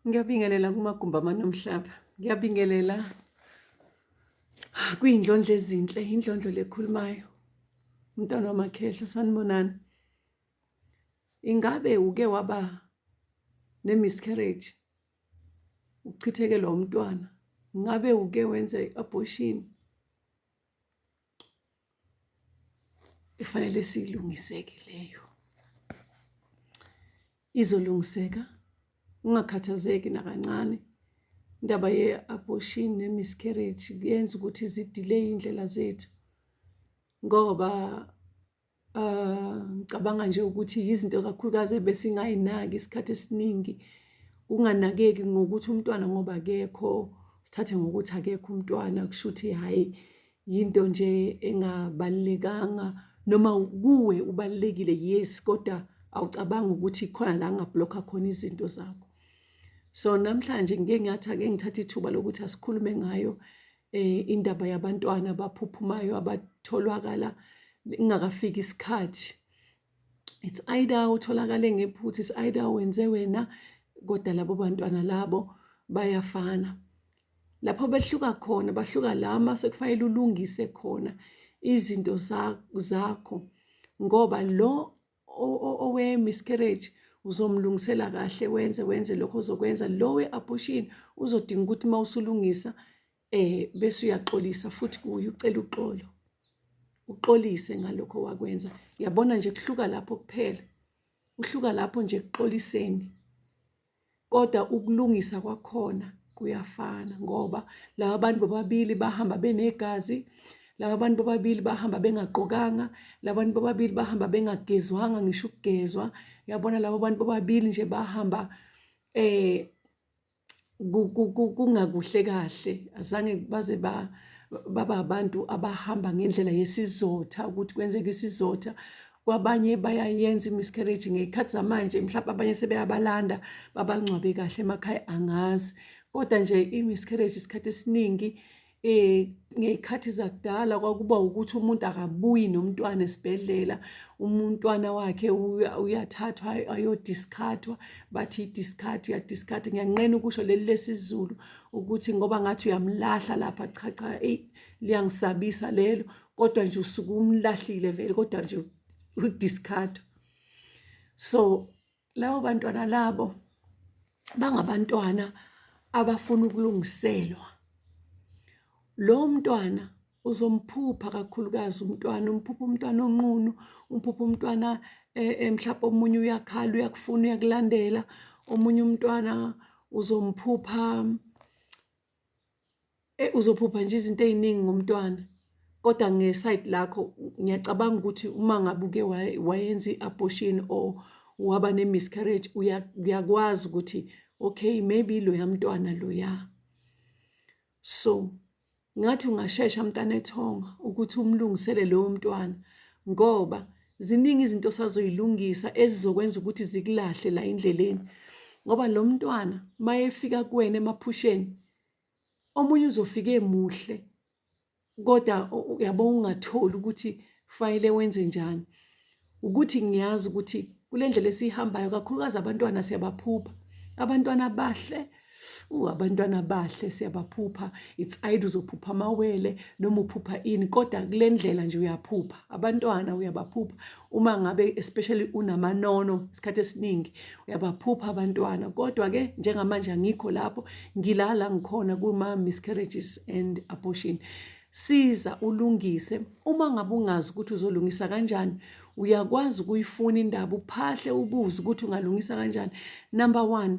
Ngiyabingelela kumagumbi amanomhlaba. Ngiyabingelela kuyindlondlo ezinhle, indlondlo lekhulumayo. Umntwana wamakhehla sanibonani. Ingabe uke waba nemiscarriage? Ukuchithekelwa umntwana. Ngabe uke wenza i-abortion? ifanele silungiseke leyo izolungiseka ungakhathazeki nakancane indaba ye-abortion ne-miscarriage kuyenza ukuthi zidileyi iy'ndlela zethu ngoba um ngicabanga nje ukuthi yizinto kakhulukazi ebesingayinaki isikhathi esiningi kunganakeki ngokuthi umntwana ngoba akekho sithathe ngokuthi akekho umntwana kusho ukuthi hhayi yinto nje engabalulekanga noma kuwe ubalulekile yes kodwa awucabangi ukuthi khona la ngablokha khona izinto zakho so namhlanje ngike ngathi ake ngithathe ithuba lokuthi asikhulume ngayo eh indaba yabantwana abaphuphumayo abatholwakala ingakafiki isikhathi it's either utholakale ngephutha it's either wenze wena kodwa labo bantwana labo bayafana lapho behluka khona bahluka lama sekufanele ulungise khona izinto zakho ngoba lo owe-miscarriage uzomlungisela kahle wenze wenze lokho ozokwenza lo we-abortion uzodinga ukuthi uma usulungisa eh bese uyaxolisa futhi kuye ucela uxolo uxolise ngalokho wakwenza yabona nje kuhluka lapho kuphela uhluka lapho nje kuxoliseni kodwa ukulungisa kwakhona kuyafana ngoba laba bantu bobabili bahamba benegazi laba bantu bobabili bahamba bengagqokanga laba bantu bobabili bahamba bengagezwanga ngisho ukugezwa yabona laba bantu bobabili nje bahamba eh kungakuhle kahle azange baze ba baba abantu abahamba ngendlela yesizotha ukuthi kwenzeka isizotha kwabanye bayayenza imiscarriage ngey'khathi zamanje mhlawumpe abanye sebeyabalanda babangcwabe kahle emakhaya angazi kodwa nje i-miscarriage isikhathi esiningi eh ngeyikhathi zakudala kwakuba ukuthi umuntu akabuyi nomntwana esibhedlela umntwana wakhe uyathathwa ayodiscardwa bathi idiscard uyadiscard ngiyanqena ukusho leli lesizulu ukuthi ngoba ngathi uyamlahla lapha cha cha eyi liyangisabisa lelo kodwa nje usuke umlahlile vele kodwa nje udiscard so labo bantwana labo bangabantwana abafuna ukulungiselwa lo mntwana uzomphupha kakhulukazi umntwana umphupha umntwana onqunu umphupha umntwana eh, eh, mhlawumbe omunye uyakhala uyakufuna uyakulandela omunye umntwana uzomphupha Eh uzophupha nje izinto eziningi ngomntwana. Kodwa ngeside lakho ngiyacabanga ukuthi uma ngabe uke wayenza i-abortion or waba ne-miscarriage uyakwazi ukuthi okay maybe loya mntwana loya. So ngathi ungashesha mntanethonga ukuthi umlungisele lowo mntwana ngoba ziningi izinto osazoyilungisa ezizokwenza ukuthi zikulahle la endleleni ngoba lo mntwana mayefika kuwena emaphusheni omunye uzofika emuhle kodwa uyabo ungatholi ukuthi fanele wenze njani ukuthi ngiyazi ukuthi kule ndlela esiyihambayo kakhulukazi abantwana siyabaphupha abantwana abahle Uh, abantwana bahle siyabaphupha it's either uzophupha amawele noma uphupha ini kodwa kule ndlela nje uyaphupha abantwana uyabaphupha uma ngabe especially unamanono isikhathi esiningi uyabaphupha abantwana kodwa-ke njengamanje angikho lapho ngilala ngikhona kuma-miscarriages and abortion siza ulungise uma ngabe ungazi ukuthi uzolungisa kanjani uyakwazi ukuyifuna indaba uphahle ubuze ukuthi ungalungisa kanjani number one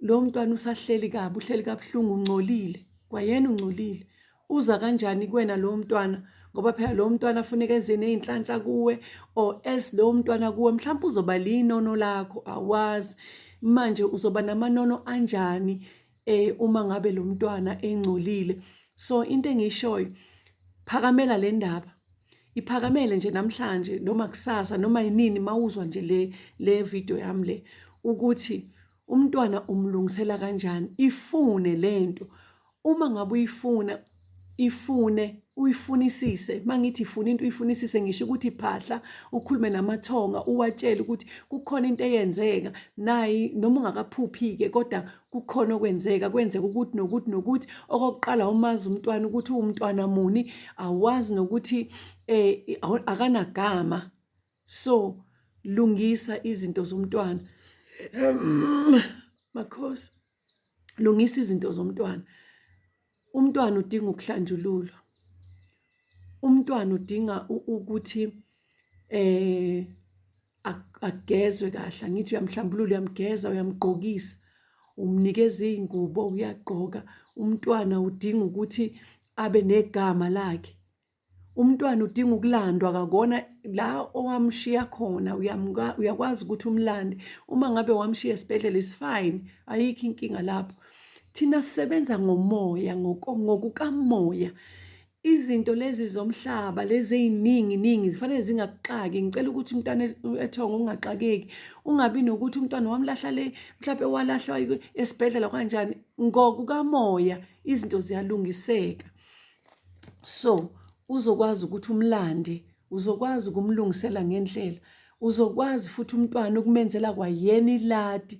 lo mntwana usahleli kabi uhleli kabuhlungu ungcolile kwayena ungcolile uza kanjani kuwena lowo mntwana ngoba phela lowo mntwana afuneka enze ney'nhlanhla kuwe or else lowo mntwana kuwe mhlawumpe uzoba liyinono lakho awazi manje uzoba namanono anjani eh uma ngabe lo mntwana engcolile so into engiyishoyo phakamela le ndaba iphakamele nje namhlanje noma kusasa noma yinini mawuzwa nje le le video yami le ukuthi umntwana umlungisela kanjani ifune lento uma ngabe uyifuna ifune uyifunisise mangithi ifuna into uyifunisise ngisho ukuthi phahla ukhulume namathonga uwatshele ukuthi kukhona into eyenzeka nayi noma ungakaphuphi ke kodwa kukhona okwenzeka kwenzeka ukuthi nokuthi nokuthi okokuqala umazi umntwana ukuthi uwumntwana muni awazi nokuthi eh akanagama so lungisa izinto zomntwana makhosi lungisa izinto zomntwana umntwana udinga ukuhlanjululwa umntwana udinga ukuthi eh agezwe kahle angithi uyamhlambulula uyamgeza uyamgqokisa umnikeza izingubo uyagqoka umntwana udinga ukuthi abe negama lakhe Umntwana udinga ukulandwa kakona la owamshiya khona uyakwazi ukuthi umlande uma ngabe wamshiya esibhedlela is fine ayikho inkinga lapho thina sisebenza ngomoya ngokukamoya izinto lezi zomhlaba lezi eziningi ningi zifanele zingaxaki ngicela ukuthi umntana ethonga ungaxakeki ungabi nokuthi umntwana wamlahla le mhlawumbe walahlwa esibhedlela kanjani ngokukamoya izinto ziyalungiseka so uzokwazi ukuthi umlande uzokwazi ukumlungisela ngendlela uzokwazi futhi umntwana ukumenzela kwayena iladi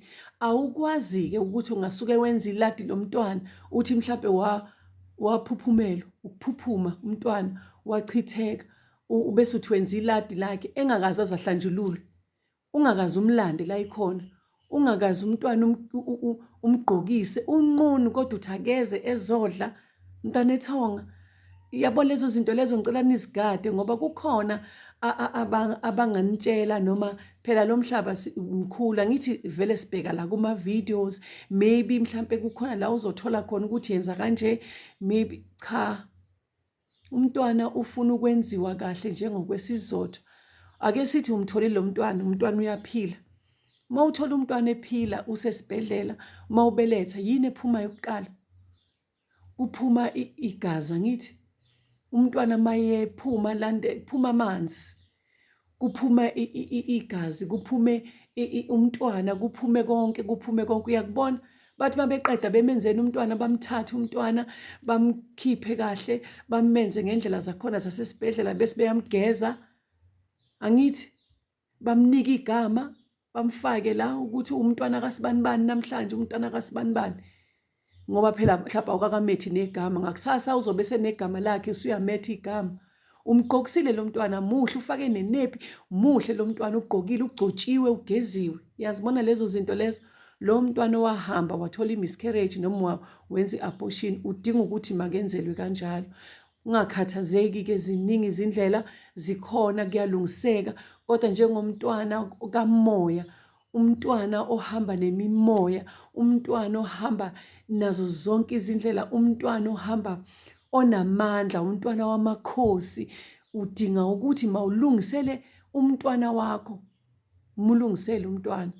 awukwazi-ke ukuthi ungasuke wenza iladi lo mntwana uthi mhlawumpe waphuphumela ukuphuphuma umntwana wachitheka bese uthi wenza iladi lakhe engakazazi ahlanjululwe ungakaze umlande la ikhona ungakaze umntwana um, umgqokise unqunu kodwa uthi akeze ezodla mntana ethonga yabo lezo zinto lezo ngicela nizigade ngoba kukhona abanganitshela noma phela lo mhlaba mkhulu angithi vele sibheka la kuma-videos maybe mhlampe kukhona la uzothola khona ukuthi yenza kanje maybe cha umntwana ufuna ukwenziwa kahle njengokwesizotho ake sithi umtholile lo mntwana umntwana uyaphila uma uthola umntwana ephila usesibhedlela uma ubeletha yini ephumayo kuqala kuphuma igazi angithi umntwana mayephuma lande kuphuma amanzi kuphume igazi kuphume umntwana kuphume konke kuphume konke uyakubona bathi babeqeda bemenzeni umntwana bamthathe umntwana bamkhiphe kahle bamenze ngendlela zakhona zasesibhedlela bese beyamgeza angithi bamnika igama bamfake la ukuthi umntwana kasibanibani namhlanje umntwana kasibanibani ngoba phela mhlawumbe awukakamethi negama ngakusasa uzobe senegama lakhe usuyametha igama umgqokisile lo mntwana muhle ufake nenephi muhle lo mntwana ugqokile ugcotshiwe ugeziwe yazibona lezo zinto lezo lo mntwana owahamba wathola i-miscarriage noma wenza i-abortion udinga ukuthi makenzelwe kanjalo Ungakhathazeki ke ziningi izindlela zikhona kuyalungiseka kodwa njengomntwana kamoya umntwana ohamba nemimoya umntwana ohamba nazo zonke izindlela umntwana ohamba onamandla umntwana wamakhosi udinga ukuthi mawulungisele umntwana wakho mulungisele umntwana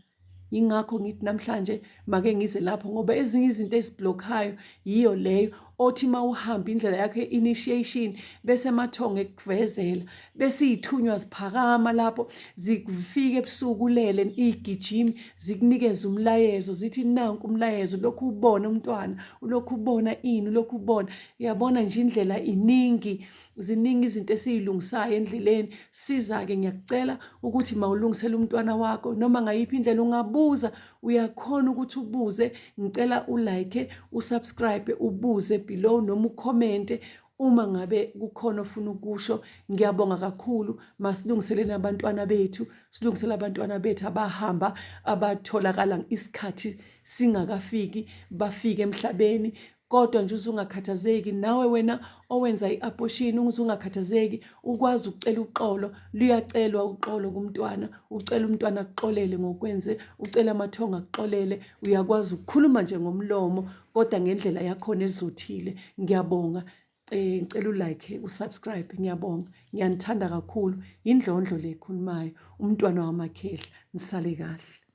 yingakho ngithi namhlanje make ngize lapho ngoba ezinye izinto eziblokhayo yiyo leyo othi uma uhamba indlela yakho ye-initiation bese amathongo ekuvezela bese iy'thunywa ziphakama lapho zifike ebusuku ulele iy'gijimi zikunikeze umlayezo zithi nanku umlayezo ulokhu ubona umntwana ulokhu ubona ini ulokhu ubona uyabona nje indlela iningi ziningi izinto esiyilungisayo endleleni siza-ke ngiyakucela ukuthi mawulungisele umntwana wakho noma ngayiphi indlela ungabuza uyakhona ukuthi ubuze ngicela ulike usubscribe ubuze below noma ukhomente uma ngabe kukhona ofuna ukusho ngiyabonga kakhulu masilungiseleni abantwana bethu silungisele abantwana bethu abahamba abatholakala isikhathi singakafiki bafike emhlabeni kodwa nje uzungakhathazeki nawe wena owenza i-abortion uzungakhathazeki ukwazi ukucela uxolo luyacelwa uxolo kumntwana ucela umntwana akuxolele ngokwenze ucela amathongo akuxolele uyakwazi ukukhuluma nje ngomlomo kodwa ngendlela yakhona ezothile ngiyabonga eh ngicela ulike usubscribe ngiyabonga ngiyanithanda kakhulu indlondlo le khulumayo umntwana wamakhehla nisale kahle